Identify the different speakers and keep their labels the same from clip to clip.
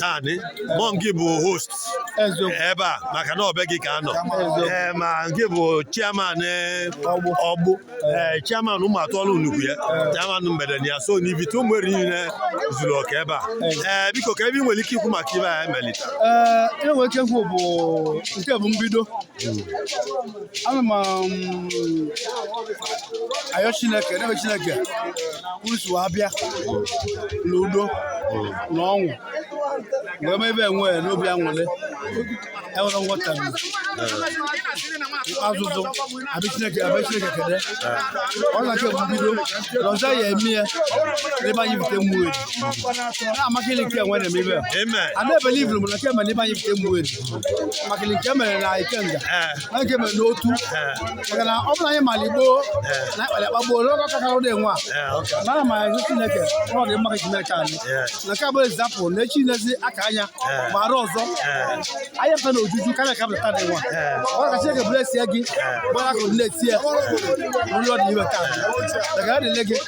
Speaker 1: tani mọ nke bụ host ebe a maka na ọ be gị ka a nọ ee ma nke bụ chairman eh, ọgbụ ee eh, chairman Umuatuolu nọkwu ya eh. chairman mgbede na ya so n'Ivite Umueri niile zuru oke ebe a ee biko kee ive ị nwere ike ikwu maka ive e melu taa ee enwere ike ikwu bụ
Speaker 2: nke bụ mbido hmm. ana m um, ayọ chineke n'ebe chineke kwurusi wee bịa n'udo na ọṅụ wee mee ebe enwe n'obi anwụlị enwere nghọta azụzụ abịa chineke abịa chineke kede ọ na nke mbido na ọzọ ya eme ya na be anyị Ivite Umueri na-amaka ile nke enwe na-eme ebe a na-ebelivuru m na nke e me na be anyị Ivite Umueri maka nke mere na ikenga na nke mere n'otu maka na ọ bụrụ anyị mara igbo na akpara akpa gboo n'oge ọka kara ụdị nwa mara ma ezi chineke ọ dị mma ka chineke anyị na ka ọ bụrụ example na echi nezi aka anya ma arọ ọzọ anyị fe na ojuju karịa ka pụta dị nwa ọ ka chineke blessie gị gbara akụrụ na-etie ụlọ dị iwe taa daga adịle gị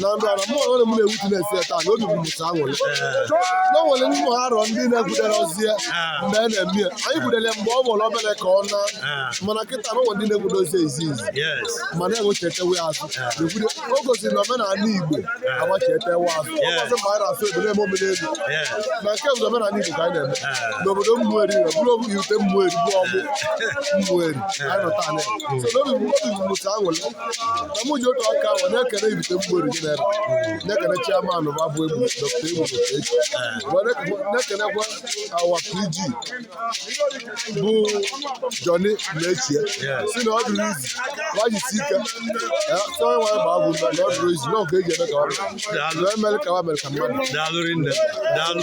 Speaker 1: na ndụ ana mụ onwe m na-ewutu na-esi ya taa na obi bụ mụ taa anwụrị na nwere ndị mụ arọ ndị na-egwudere ozi ya mgbe a na-eme ya anyị gwudere mgbe ọ bụla obere ka ọ na mana kịta na nwere ndị na-egwude ozi ezi izi ma na-enwechetewe azụ na-egwude o gosiri na omenala Igbo agbachetewe azụ ọ bụzi mgbe anyị na-asị ebe na-eme omenelu na nke bụ omenala Igbo ka anyị na-eme n'obodo Umueri na bụrụ Ivite Umueri bụ Ọgbụ Umueri anyị nọ taa ya so n'obi bụ obi bụ mụ taa anwụrị na mụ ji otu aka ahụ na-ekele Ivite Umueri general na-ekele chairman bụ abụ egbu dọkịta egbu dọkịta echi wee na- na-ekelekwa our PG bụ Johnny Metchie sị na ọ dịrọ easy wa jisi ike ya sị onye nwanyị ma abụ na ọ dịrọ easy na ọ ka e ji eme ka ọ dị. Daalụ. wee mere ka ọ mere ka mmadụ Daalụ rinne. Daalụ.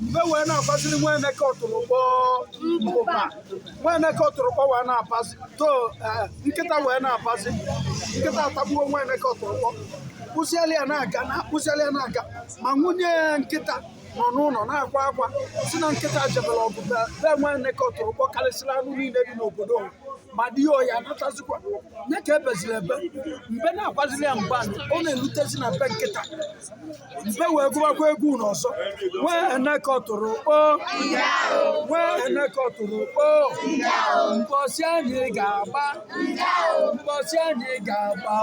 Speaker 2: mbe wee na-agbaziri nwa eneke ọtụrụkpọ mbụba nwa eneke ọtụrụkpọ wee na-abazi to eh, nkịta wee na-abazi nkịta atagbuo nwa eneke ọtụrụkpọ kpụsịala ya na-aga na akpụsịala ya na-aga ma nwunye ya nkịta nọ n'ụlọ na-akwa akwa sị na nkịta jebere ọgụ be be nwa eneke ọtụrụkpọ karịsịrị anụ niile dị n'obodo ụwa ma di ya ọ ya-anatazikwa ya ka ebeziri ebe mbe na-agbaziri ya mgbe ọ na-erutezi na be nkịta mbe wee gụbakwa egwu nụ ọzọ nwa eneke ọtụrụkpọ nwa eneke ọtụrụkpọ mbọsị anyị ga-agba mbọsị anyị ga-agba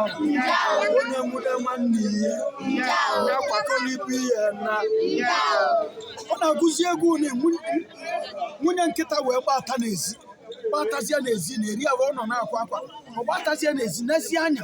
Speaker 2: onye nwude nwanne ihe ya kwakọlibu ihe na ọ na-agụzi egwu nụ nwunye nkịta wee gbata n'ezi gbatazie n'ezi na-eri ahụ ọ nọ na-akwa akwa ọ gbatazie n'ezi nezie anya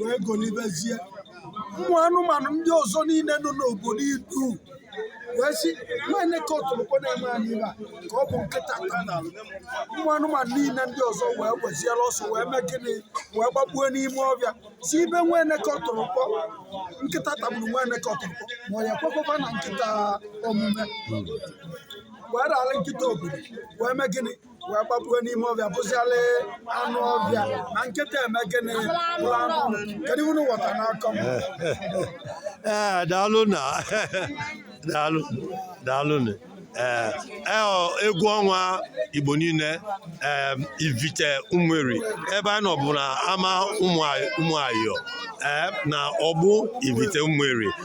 Speaker 2: wee golibezie ụmụ anụmanụ ndị ọzọ niile nọ n'obodo idu wee sị nwa eneke ọtụrụkpọ na-eme anyị ive a ka ọ bụ nkịta taa na alụ ụmụ anụmanụ niile ndị ọzọ wee weziere ọsọ wee mee gịnị wee gbapue n'ime ọvịa si ibe nwa eneke ọtụrụkpọ nkịta tagburu nwa eneke ọtụrụkpọ ma ọ ya kwekwekwa na nkịta omume wee rara nkịta obodo wee mee gịnị wee gbapue n'ime ọvịa bụziala anụ ọvịa na nkịta eme gịnị bụrụ anụ ụlọ kedu unu ghọta n'akọ m ee daalụ
Speaker 3: na daalụ daalụ na ee ee, ọ, egwu ọnwa igbo niile ee ivite ụmụeri ebe anyị nọ bụ na ama ụmụ ayọ ee na ọgbụ ivite ụmụeri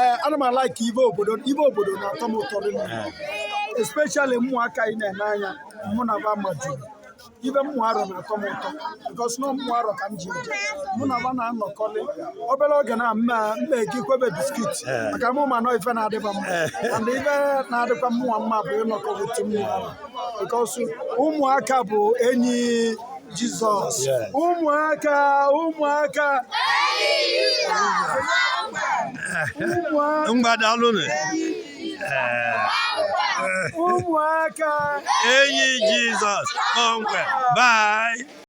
Speaker 2: ee ana m a-like ive obodo ive obodo na-atọ m ụtọ rinne especially ụmụaka anyị na-ene anya mụ na va maju ive ụmụ arọ na-atọ m ụtọ because na ụmụ arọ ka m ji eje mụ na va na-anọkọlị obere oge na mma mma eke kwebe biskit maka mụ ma na ọ ife na-adị va mma and ife na-adịkwa mụwa mma bụ ịnọkọ with ụmụ arọ because ụmụaka bụ enyi Jizọs ụmụaka
Speaker 3: ụmụaka ngwa daalụnụ ụmụaka enyi
Speaker 2: Jizọs
Speaker 3: kpọmkwem bye